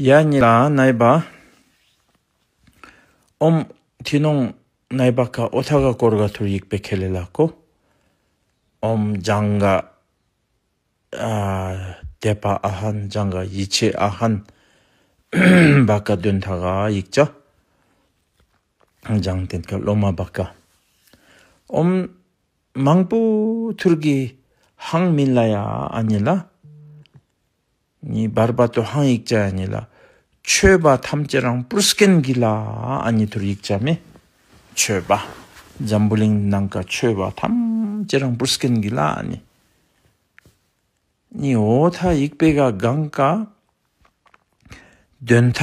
ཡ་གཉིས་ལ་སྣའི་བ་འོམ། ཐི་ནོང་སྣའི་བ་ཁ་ཨོ་ཐ་ག་སྐོར་ག་ཐུར་ཡིག་པའི་ཁེ་ལས་ལ་ཀོ། འོམ། འཇང་ག་དད་པ་ཨ་ཧན་འཇང་ག་ཡིད་ཆེས་ཨ་ཧན། བ་ཀ་དོན་མཐའ་ག་ཡིག་ཆ། འཇང་བསྟན་ག་སློབ་མ་བ་ཀ། འོམ། མང་པོ་ཐུར་གི་ཧང་མིན་ལ་ཡ་ཨ་གཉིས་ལ། བར་པ་ཏོ་ཧང་ཡིག་བྱ་ཡ་ལ། མཆོད་པ་ཐམས་ཅད་རང་བུར་སྐན་གྱི་ལ་ཨ་ནི་དུར་ཡིག་བྱ་མེ། མཆོད་པ། འཛམ་བུ་གླིང་ནང་ག་མཆོད་པ་ཐམས་ཅད་རང་བུར་སྐན་གྱི་ལ་ཨ་ནི། ཨོ་ཐ་ཡིག་པེ་ག་གང་ག། འདོན་ཐ།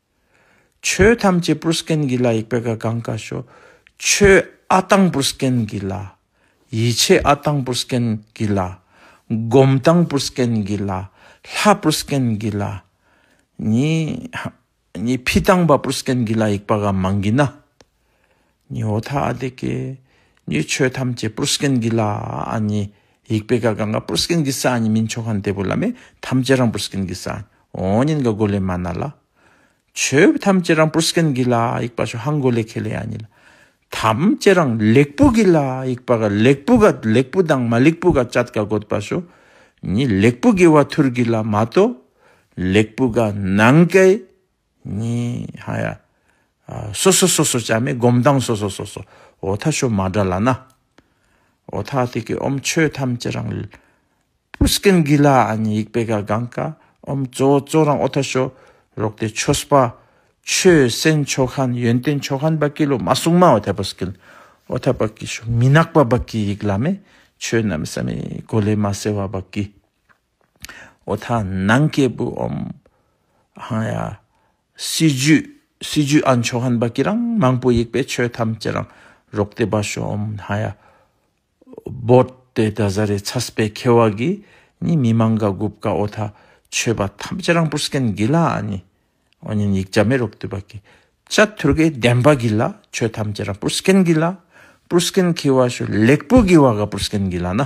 ཆོས་ཐམས་ཅད་པུར་སྐན་གྱི་ལ་ཡིག་པད་ཀ་གངས་ཀ་ཞོ། ཆོས་ཨ་ཐང་པུར་སྐན་གྱི་ལ། ཡིད་ཆེས་ཨ་ཐང་པུར་སྐན་གྱི་ལ། སྒོམ་ཐང་པུར་སྐན་གྱི་ལ། ལྷ་པུར་སྐན་གྱི་ལ། ནི། ཕི་ཐང་པ་པུར་སྐན་གྱི་ལ་ཡིག་པ་ག་མང་གི་ན། ཉོ་ཐག་འདི་གའི་ཉོས་ཆོས་ཐམས་ཅད་པུར་སྐན་གྱི་ལ་ཨ་ནི་ཡིག་པའི་ག་གང་ག་པུར་སྐན་གྱི་ས་ནི་མིན་ཆོ་ག་འདི་པོ་ལ་མེ་ཐམས་ཅད་རང་པུར་སྐན་གྱི་ས་ཨོ་ཉིན་ག་གོ་ལའི་མ་ན་ལ། ཆོས་ཐམས་ཅད་རང་པུར་སྐན་གྱི་ལ་ཡིག་པ་ཆོ་ཧང་གོ་ལའི་ཁེ་ལས་ཨ་ནི་ལ། ཐམས་ཅད་རང་ལེགས་པོ་གྱི་ལ་ཡིག་པ་ག་ལེགས་པོ་ག་ལེགས་པོ་དང་མ་ལེགས་པོ་ག་ཅད་ག་གོ་ད་པ་ཆོ་ནི་ལེགས་པོ་གྱི་བ་ཐུར་གྱི་ལ་མ་ཏོ་ལེགས་པོ་ག་ནང་གའི་གཉིས། ཧ་ཡ། སོ་སོ་སོ་སོ་ཅག་མའི་སྒོམ་སྟངས་སོ་སོ་སོ་སོ་འོ་ཐ་ཤོ་མ་འདྲ་ལ་ན། འོ་ཐ་ཐི་ཀི་ཨོམ་ཆོས་ཐམས་ཅད་རང་ལུས། པུ་སི་ཀན་གི་ལ་ཨ་ནི་ཡིག་པེ་ག་གང་ཀ་ཨོམ་གཙོ་བོ་གཙོ་རང་འོ་ཐ་ཤོ་རོག་ཏེ་ཆོ་སྤ། ཆོས་སེན་མཆོ་ཁན་ཡོན་ཏན་མཆོ་ཁན་བ་ཀི་ལོ་མ་སུང་མ་འོ་ཐ་པུ་སི་ཀན་འོ་ཐ་བ་ཀི་ཤོ་མི་ནག་པ་བ་ཀི་ཡིག་ལ་མེ་ཆོས་རྣམས་སམ་ཡིག་གོ་ལེ་མ་སེ་བ་བ་ཀི། འོ་ད་ནང་སྐྱེས་བུ་འམ་ཧང་ཡ། སྲིད་ཇུས་སྲིད་ཇུས་ཨ་མཆོག་ཧན་པ་ཀྱི་རང་མང་པོ་ཡིག་པའི་ཆོས་ཐམས་ཅད་རང་རོགས་དེ་པ་ཤོ་འམ་ཧང་ཡ། བོད་དེ་ད་གཟའ་རེ་ཚ་སྤེ་ཁེ་བ་གི་ནི་མི་མང་ག་དགུབ་ག་འོ་ད་ཆོས་པ་ཐམས་ཅད་རང་པུར་སྐན་དགི་ལ་ཨ་ནི་འོ་ཉིན་ཡིག་བྱ་མེ་རོགས་དེ་པ་ཀྱི་ཅ་ཐུར་ཀའི་བདེན་པ་གི་ལ་ཆོས་ཐམས་ཅད་རང་པུར་སྐན་དགི་ལ་པུར་སྐན་ཁེ་བ་ཤོ་ལེགས་པོ་གི་བ་ག་པུར་སྐན་དགི་ལ་ན་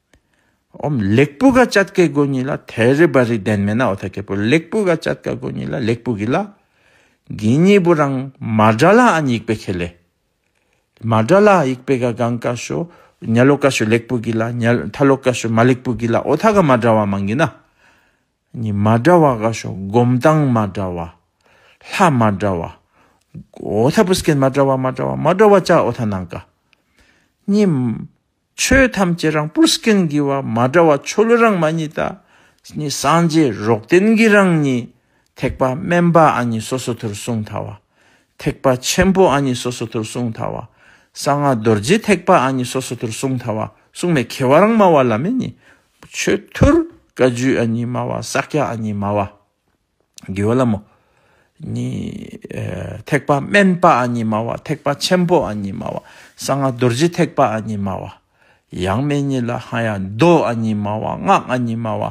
འོམ་ལེགས་པུ་ག་ཅད་ཀའི་སྒོ་གཉིས་ལ་དལ་རེ་བར་རིགས་ལྡན་མེད་ན་འོ་ཐ་གས་པོ་ལེགས་པུ་ག་ཅད་ཀ་སྒོ་གཉིས་ལ་ལེགས་པུ་གི་ལ་གི་གཉིས་པོ་རང་མ་སྒྲ་ལ་ཨན་ཡིག་པའི་ཁས་ལས། མ་སྒྲ་ལ་ཡིག་པའི་ག་གང་ཀ་ཞོ་ཉལ་ལོ་ཀ་ཞོ་ལེགས་པུ་གི་ལ་ཉལ་ཐལ་ལོ་ཀ་ཞོ་མ་ལེགས་པུ་གི་ལ་འོ་ཐ་ག་མ་སྒྲ་བ་མང་གི་ན། གཉིས་མ་སྒྲ་བ་ག་ཞོ་སྒོམ་སྟངས་མ་སྒྲ་བ། ལྷ་མ་སྒྲ་བ། འོ་ཐ་པུ་སྐད་མ་སྒྲ་བ་མ་སྒྲ་བ་མ་སྒྲ་བ་ཅག་འོ་ཐ་ནང་ཀ། གཉིས། ཆོས་ཐམས་ཅད་རང་སྤུར་སྐྱེ་འགྱི་བ་མ་འདྲ་བ་ཆོ་ལོ་རང་མ་ཉིད་ད་ནི་སངས་རྒྱས་རོགས་དན་གྱི་རང་ཉིད་ཐེག་པ་དམན་པ་ཨ་ནི་སོ་སོ་དུར་སྲུང་ཐ་བ་ཐེག་པ་ཆེན་པོ་ཨ་ནི་སོ་སོ་དུར་སྲུང་ཐ་བ་གསང་སྔགས་རྡོ་རྗེ་ཐེག་པ་ཨ་ནི་སོ་སོ་དུར་སྲུང་ཐ་བ་སྲུང་མའི་ཁེ་བ་རང་སྨྲ་བ་ལ་མེ་ནི་ཆོས་ཐུར་བཀའ་རྒྱུད་ཨ་ནི་སྨྲ་བ་ས་སྐྱ་ཨ་ནི་སྨྲ་བ། དགེ་བ་ལ་མོ། ནི། ཐེག་པ་དམན་པ་ཨ་ཉི་མ་བ་ཐེག་པ་ཆེན་པོ་ཨ་ཉི་མ་བ་གསང་སྔགས་རྡོ་རྗེ་ཐེག་པ་ཨ་ཉི་མ་བ། ཡང་མན་ཉིད་ལ་ཧ་ཡ་མདོ་ཨ་ཉི་མ་བ་སྔགས་ཨ་ཉི་མ་བ་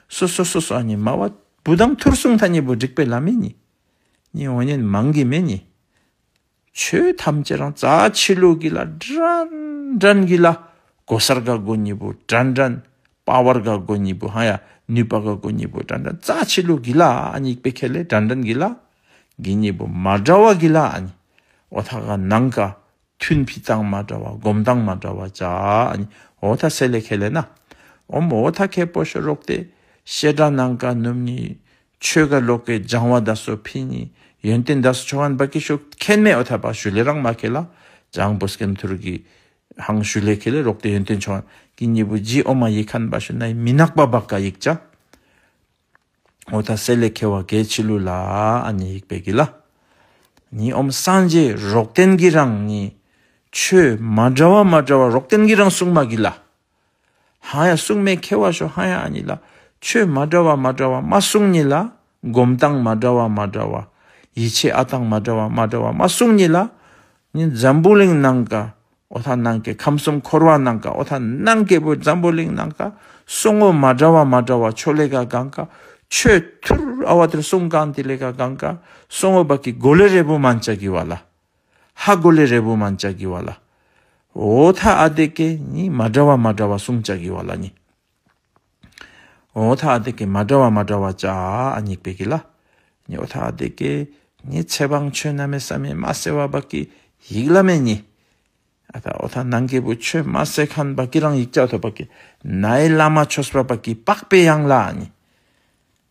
སོ་སོ་སོ་སོ་ཨ་ཉི་མ་བ་བུ་དང་ཐུར་གསུམ་མཐའ་གཉིས་པོ་བསྒྲིགས་པའི་ལམ་མན་ཉིད། ཉིད་འོ་ཉེན་མང་གི་མན་ཉིད། ཆོས་ཐམས་ཅད་རང་རྩ་ཆེ་ལུགས་ཀྱི་ལ་དྲན་དྲན་གྱི་ལ་གོ་སར་ག་གོ་གཉིས་པོ་དྲན་དྲན་དཔའ་བར་ག་གོ་གཉིས་པོ་ཧ་ཡ་ནུས་པ་ག་གོ་གཉིས་པོ་དྲན་དྲན་རྩ་ཆེ་ལུགས་ཀྱི་ལ་གཉིས་པའི་ཁྱད་ལས་དྲན་དྲན་གྱི་ལ་གི་གཉིས་པོ་མ་འདྲ་བ་གྱི་ལ་གཉིས་འོ་ཐ་ག་ནང་ག་ཐུན་འཕི་སྟངས་མ་འདྲ་བ་སྒོམ་སྟངས་མ་འདྲ་བ་བྱ་གཉིས་འོ་ཐ་སེ་ལས་ཁྱད་ལས་ན་འོ་མ་འོ་ཐ་ཁད་པོ་ཤོ་རོག་སྟེ་བཤད་སྒྲ་ནང་ག་ནུབ་ནི། ཆོས་ག་ལོག་གེ་སྦྱང་བ་ད་སོ་ཕི་ནི་ཡོན་ཏན་ད་སོ་ཆོ་ག་འབའ་ཀེ་ཤོ་ཁན་མེ་འོ་ཐ་པ་ཞུ་ལེ་རང་མ་ཁེ་ལ་སྦྱང་བོ་སྐན་ཐུར་གི་ཧང་ཞུ་ལེ་ཁེ་ལེ་རོག་ཏེ་ཡོན་ཏན་ཆོ་གི་ཉེ་བུ་རྗེ་འོ་མ་ཡེ་ཁན་པ་ཞུ་ནའི་མི་ནག་པ་བ་ག་ཡིག་ཅག་འོ་ཐ་སེ་ལེ་ཁེ་བ་གེ་ཆི་ལུ་ལ་ཨ་ནི་ཡིག་པེ་གི་ལ་ནི་འོ་མ་སངས་རྗེ་རོག་ཏན་གི་རང་ནི་ཆོས་མ་འདྲ་བ་མ་འདྲ་བ་རོག་ཏན་གི་རང་གསུང་མ་གི་ལ། ཧཱ་ཡ་སྲུང་མས་ཁྱེར་བ་ཤོ་ཧཱ་ཡ་ཨ་ཉི་ལ། ཆོས་མ་འདྲ་བ་མ་འདྲ་བ་མ་སྲུང་ཉིད་ལ། སྒོམ་སྟངས་མ་འདྲ་བ་མ་འདྲ་བ། ཡིད་ཆེས་ཨ་སྟངས་མ་འདྲ་བ་མ་འདྲ་བ་མ་སྲུང་ཉིད་ལ། ནི་འཛམ་བུ་གླིང་ནང་དཀའ་ཨོ་ད་ནང་དཀའི་ཁམས་གསུམ་འཁོར་བ་ནང་དཀའ་ཨོ་ད་ནང་དཀའི་བུ་འཛམ་བུ་གླིང་ནང་དཀའ་སྲུང་ངོ་མ་འདྲ་བ་མ་འདྲ་བ་ཆོས་ལས་ཀ་གང་དཀའ་ཆོས་ཐུར་ཨ་བ་དེར་སྲུང་གང་དེ་ལས་ཀ་གང་དཀའ་སྲུང་ཨོ་བ་ཀི་གོ་ལེ་རེ་བུ་མ་འཇག་གི་བ་ལ། ཧ་གོ་ལེ་རེ་བུ་མ་བྱ་གི་བ་ལ། འོ་ཐ་ཨ་དེ་ཀེ་ནི་མ་འདྲ་བ་མ་འདྲ་བ་གསུམ་བྱ་གི་བ་ལ་ནི། འོ་ཐ་ཨ་དེ་ཀེ་མ་འདྲ་བ་མ་འདྲ་བ་བྱ་ཨ་ཉིག་པེ་གི་ལ། ནི་འོ་ཐ་ཨ་དེ་ཀེ་ནི་ཚེ་དཔང་ཆོས་རྣ་མེ་ས་མེ་མ་སེ་བ་བ་ཀི་ཡིག་ལ་མེ་ནི། ཨ་ཐ་འོ་ཐ་ནང་ཀེ་བུ་ཆོས་མ་སེ་ཁན་བ་ཀི་རང་ཡིག་ཅག་ཐོ་བ་ཀི་ནའི་བླ་མ་ཆོས་བ་བ་ཀི་པགས་པའི་ཡང་ལ་ཨ་ནི།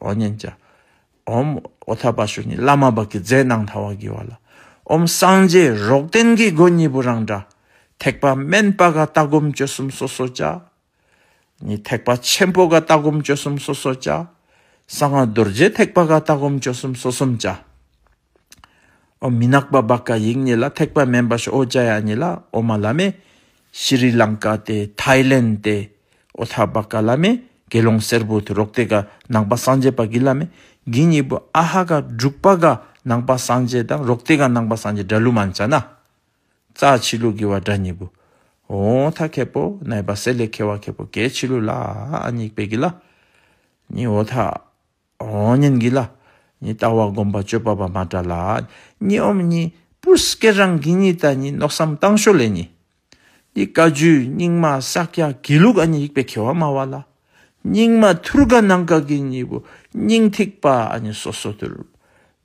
ཨོ་ཉན་ཅིག། ཨོམ། ཨོ་ཐ་པ་ཤུ་ནི་བླ་མ་བག་གི་རྫས་གནང་ཐ་བ་གི་བ་ལ། ཨོམ་སངས་རྒྱས་རོག་ཏན་གི་སྒོ་གཉིས་པོ་རང་འདྲ། ཐེག་པ་དམན་པ་ག་ལྟ་སྒོམ་སྤྱོད་གསུམ་སོ་སོ་བྱ། ནི་ཐེག་པ་ཆེན་པོ་ག་ལྟ་སྒོམ་སྤྱོད་གསུམ་སོ་སོ་བྱ། གསང་བ་རྡོ་རྗེ་ཐེག་པ་ག་ལྟ་སྒོམ་སྤྱོད་གསུམ་སོ་གསུམ་བྱ། ཨོ་མི་ནག་པ་བ་ཀ་ཡིག་གཉིས་ལ་ཐེག་པ་མན་པ་ཤོ་ཨོ་ཅཱ་ཡ་གཉིས་ལ་ཨོ་མ་ལ་མེ། ཤི་རི་ལང་ཀ་སྟེ་ཐཱའི་ལེན་སྟེ་ཨོ་ཐ་བ་ཀ་ལ་མེ་དགེ་སློང་སེར་པོ་དུ་རོག་སྟེ་ཀ་ནང་པ་སངས་རྒྱས་པ་གི་ལ་མེ་གི་གཉིས་པོ་ཨ་ཧ་ཀ་འབྲུག་པ་ཀ་ནང་པ་སངས་རྒྱས་དང་རོག་སྟེ་ཀ་ནང་པ་སངས་རྒྱས་སྒྲ་ལུགས་མ་འཆ་ན། རྩ་ཕྱི་ལུགས་ཀྱི་བ་སྒྲ་གཉིས་པོ་ཨོ་ཐ་ཁེ་པོ་ནའི་བ་སེ་ལེ་ཁེ་བ་ཁེ་པོ་ཀའི་ཕྱི་ལུགས་ལ་ཨ་ཨ་གཉིས་པའི་གི་ལ་གཉིས་ཨོ་ཐ་རང་ཉིད་ཀྱི་ལ་ནི་ལྟ་བ་སྒོམ་པ་སྤྱོད་པ་བར་མ་འདྲ་ལ། གཉིས་འོམ་གཉིས་པོ་སྐད་རང་གི་གཉིས་ད་གཉིས་མནོ་བསམ་བཏང་ཞོར་ལས་གཉིས། འདི་བཀའ་བརྒྱུད་རྙིང་མ་ཤཱཀ་ཡ་དགེ་ལུགས་ཨ་ནི་ཡིག་པའི་ཁེ་བ་སྨྲ་བ་ལ། རྙིང་མ་ཐུར་དགའ་ནང་དགའ་གི་གཉིས་པོ་སྙིང་ཐིག་པ་ཨ་ནི་སོ་སོ་དུར།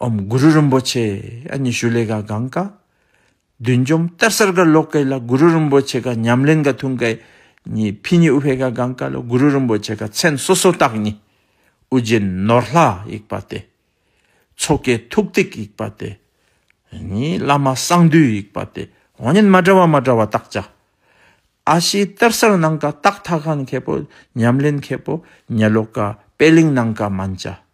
ཨོམ་གུ་རུ་རིན་པོ་ཆེ་ཨ་ཉི་ཤུ་ལེ་ག་གང་ཀ། བདུད་འཇོམས་གཏེར་གསར་ག་ལོག་ཀེ་ལ་གུ་རུ་རིན་པོ་ཆེ་ག་ཉམས་ལེན་ག་ཐུང་ཀེ་གཉིས་ཕི་ཉི་ཨུ་བྷེ་ག་གང་ཀ་ལོ་གུ་རུ་རིན་པོ་ཆེ་ག་མཚན་སོ་སོ་རྟགས་གཉིས། དབུ་རྒྱན་ནོར་ལྷ་ཡིག་པ་སྟེ། ཆོ་གའི་ཐུགས་ཏིག་ཡིག་པ་སྟེ། གཉིས་བླ་མ་གསང་འདུས་ཡིག་པ་སྟེ་དབང་ཉན་མ་འདྲ་བ་མ་འདྲ་བ་རྟགས་བཅའ། ཨ་ཤེའི་གཏེར་གསར་ནང་ཀ་སྟག་ཐ་ག་མཁས་པོ་ཉམས་ལེན་མཁས་པོ་ཉལ་ལོག་ཀ་དཔལ་གླིང་ནང་ཀ་མན་བཅའ།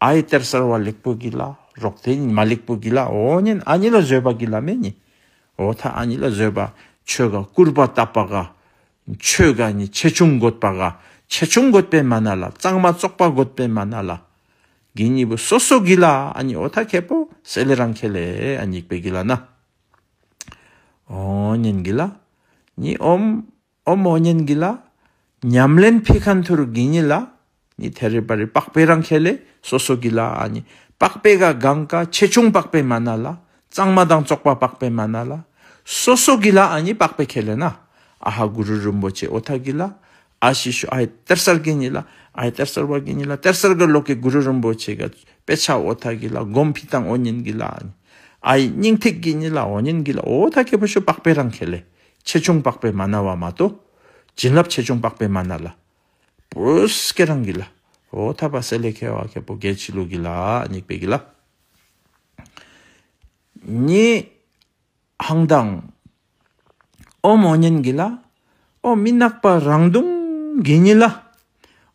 ཨ་ཡི་གཏེར་གསར་བ་ལེགས་པོ་གྱིས་ལ་རོགས་དེ་ཉིད་མ་ལེགས་པོ་གྱིས་ལ་འོ་ཉེན་ཨ་ཉི་ལ་བཟོད་པ་གྱིས་ལ་མེ་ཉིད་འོ་མཐའ་ཨ་ཉི་ལ་བཟོད་པ་ཆོས་དགའ་སྐུར་པ་བཏབ་པ་དགའ། ཆོས་དགའ་ནི་ཆེ་ཆུང་དགོད་པ་དགའ་ཆེ་ཆུང་དགོད་པའི་མ་ན་ལ་གཙང་མ་བཙོག་པ་དགོད་པའི་མ་ན་ལ། དགེ་གཉིས་པོ་སོ་སོ་གྱིས་ལ་ཨ་ཉི་འོ་མཐའ་ཁད་པོ་སེ་ལེ་རང་ཁེ་ལེ་ཨ་ཉིག་པའི་གྱིས་ལ་ན་འོ་ཉེན་གྱིས་ལ་ཉི་འོམ། ཨོ་མོ་གཉན་གྱི་ལ། ཉམས་ལེན་ཕི་ཁ་མཐུ་རུ་གི་ཉི་ལ། ནི་ཐེ་རི་པ་རི་པགས་པའི་རང་ཁྱེད་ལས་སོ་སོ་གི་ལ་ཨ་ནི་པགས་པའི་ག་གང་ཀ་ཆེ་ཆུང་པགས་པའི་མ་ན་ལ་གཙང་མ་དང་བཙོག་པ་པགས་པའི་མ་ན་ལ་སོ་སོ་གི་ལ་ཨ་ནི་པགས་པའི་ཁྱེད་ལས་ན་ཨ་ཧ་གུ་རུ་རིན་པོ་ཆེ་ཨོ་ཐ་གི་ལ་ཨ་ཞི་ཤོ་ཨའི་གཏེར་གསར་གི་ཉི་ལ་ཨའི་གཏེར་གསར་བ་གི་ཉི་ལ་གཏེར་གསར་གི་ལོགས་ཀྱི་གུ་རུ་རིན་པོ་ཆེ་ག་པེ་ཆ་ཨོ་ཐ་གི་ལ་སྒོམ་ཕི་དང་ཨོ་གཉན་གི་ལ་ཨ་ནི་ཨའི་སྙིང་ཐིག་གི་ཉི་ལ་ཨོ་གཉན་གི་ལ་ཨོ་ཐ་གི་བུ་ཤོ་པགས་པའི་རང་ཁྱེད་ལས་ཆེ་ཆུང་དཔག་པའི་མ་ན་བ་མ་གཏོགས། བྱིན་རླབས་ཆེ་ཆུང་དཔག་པའི་མ་ན་ལ། བུས་ཀྱེ་རང་གི་ལ། འོ་ཐ་པ་སེ་ལེ་ཁེ་བ་ཁེ་པོ་གེ་ཆི་ལུ་གི་ལ་སྙིགས་པའི་གི་ལ། ཉི་ཧང་མདངས། ཨོ་མོ་གཉན་གི་ལ། ཨོ་མི་ནག་པ་རང་མདུང་གི་ཉི་ལ།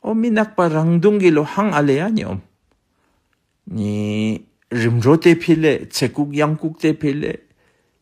ཨོ་མི་ནག་པ་རང་མདུང་གི་ལོ་ཧང་ཨ་ལེ་ཡ་ཉི་ཨོམ། ཉི་རིམ་གྲོ་སྟེ་ཕི་ལེ་ཚེ་ལྐུགས་གཡང་ལྐུགས་སྟེ་ཕི་ལེ།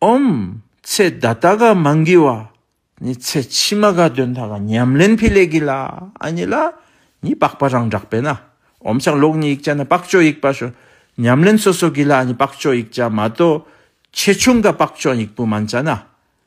ཨོམ། ཚེ་བདའ་ད་ག་མ་འགི་བ། ནི་ཚེ་ཕྱི་མ་ག་དོན་ད་ག་ཉམས་ལེན་འཕེལ་ལས་གི་ལ་ཨ་ནི་ལ། ནི་པགས་པ་རང་བསྒྲགས་པས་ན། ཨོམ་ཆགས་ལོག་ནི་ཡིག་བྱ་ན་པགས་ཅོ་ཡིག་པ་ཞོ། ཉམས་ལེན་སོ་སོ་གི་ལ་ཨ་ནི་པགས་ཅོ་ཡིག་བྱ་མ་གཏོགས། ཆེ་ཆུང་ག་པགས་ཅོ་ཡིག་པུ་མ་འཇ་ན།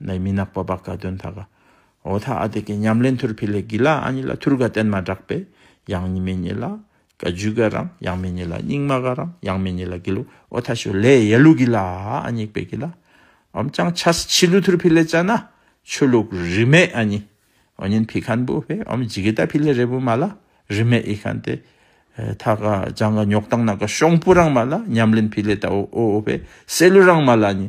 ནས་མི་ནག་པོ་བག་ག་དོན་དག་ག་འོ་ཐ་ཨ་དེ་གའི་ཉམས་ལེན་ཐུར་ཕི་ལེ་གི་ལ་ཨ་ཉི་ལ་ཐུར་ག་བསྟན་མ་དྲག་པས་ཡང་ཉི་མེ་ཉི་ལ་ག་རྒྱུ་ག་རང་ཡང་མེ་ཉི་ལ་སྙིང་མ་ག་རང་ཡང་མེ་ཉི་ལ་གི་ལུག་འོ་ཐ་ཞོ་ལེ་ཡེ་ལུག་གི་ལ་ཨ་ཉིག་པའི་གི་ལ་འོམ་ཅང་ཆ་སི་ཆི་ལུ་ཐུར་ཕི་ལེ་ཅ་ན་ཆོས་ལུག་རི་མེ་ཨ་ཉི་འོ་ཉིན་ཕི་ཁན་པུ་བྷེ་འོམ་རྗི་གི་ད་ཕི་ལེ་རེ་བུ་མ་ལ་རི་མེ་ཨི་ཁན་ཏེ་ཐ་ག་ཅང་ག་ཉོག་ཏང་ན་ག་ཤོང་པུ་རང་མ་ལ་ཉམས་ལེན་ཕི་ལེ་ད་འོ་འོ་བྷེ་སེ་ལུ་རང་མ་ལ་ཨ་ཉི་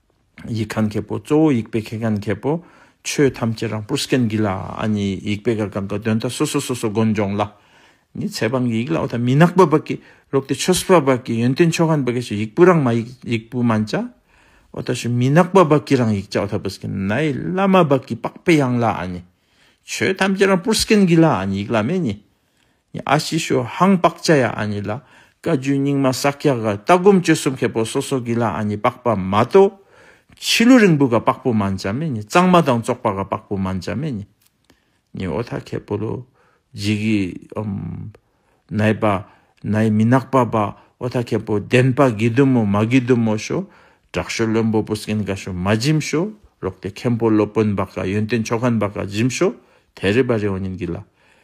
ཡིག་མཁན་མཁས་པོ་གཙོ་བོ་ཡིག་དཔེ་མཁས་མཁན་མཁས་པོ་ཆོས་ཐམས་ཅད་རང་བུར་སྐྱོན་གྱིས་ལ་ཨ་ནི་ཡིག་དཔེ་གར་གང་གི་དོན་དག་སོ་སོ་སོ་སོ་དགོངས་སྦྱོང་ལ་ནི་ཚེ་དཔང་གི་ཡིག་ལ་བ་དང་མི་ནག་པོ་བག་གི་ལོག་ཏི་ཆོས་སྤ་བག་གི་ཡོན་ཏན་ཆོས་ཁང་བག་གི་ཞེས་ཡིག་བུ་རང་མ་ཡིག་ཡིག་བུ་མ་འཇའ་བ་ད་ཞུ་མི་ནག་པོ་བག་གི་རང་ཡིག་འཇའ་བ་ད་བུ་སྐྱོན་ནའི་བླ་མ་བག་གི་པགས་པའི་ཡང་ལ་ཨ་ནི་ཆོས་ཐམས་ཅད་རང་བུར་སྐྱོན་གྱིས་ལ་ཨ་ནི་ཡིག་བླ་མའི་ནི། ཨ་ཤི་ཤོ་ཧང་པག་ཅ་ཡ་ཨ་ནི་ལ་བཀའ་བརྒྱུད་རྙིང་མ་ས་སྐྱ་ག་ལྟ་སྒོམ་སྤྱོད་གསུམ་མཁས་པོ་སོ་སོ་གི་ལ་ཨ་ནི་པག་པ་མ་ཏོ། ཕྱི་ལུ་རིང་བུ་ག་པག་པོ་མ་འཇའ་མེ་ནི་གཙང་མ་དང་བཙོག་པ་ག་པག་པོ་མ་འཇའ་མེ་ནི། ནི་ཨོ་ཐ་ཁེ་པོ་ལོ་ཇི་གི་ཨོམ། ནའི་པ་ནའི་མི་ནག་པ་པ་ཨོ་ཐ་ཁེ་པོ་ལྡན་པ་གི་དུ་མོ་མ་གི་དུ་མོ་ཤོ། བྲག་ཤོ་བློན་པོ་པུ་སྐན་ག་ཤོ་མ་འཇིམ་ཤོ་རོག་ཏེ་མཁན་པོ་སློབ་དཔོན་པ་ག་ཡོན་ཏན་མཆོག་ཁན་པ་ག་འཇིམ་ཤོ་དེ་རི་པ་རི་ཨོ་ཉིན་གི་ལ།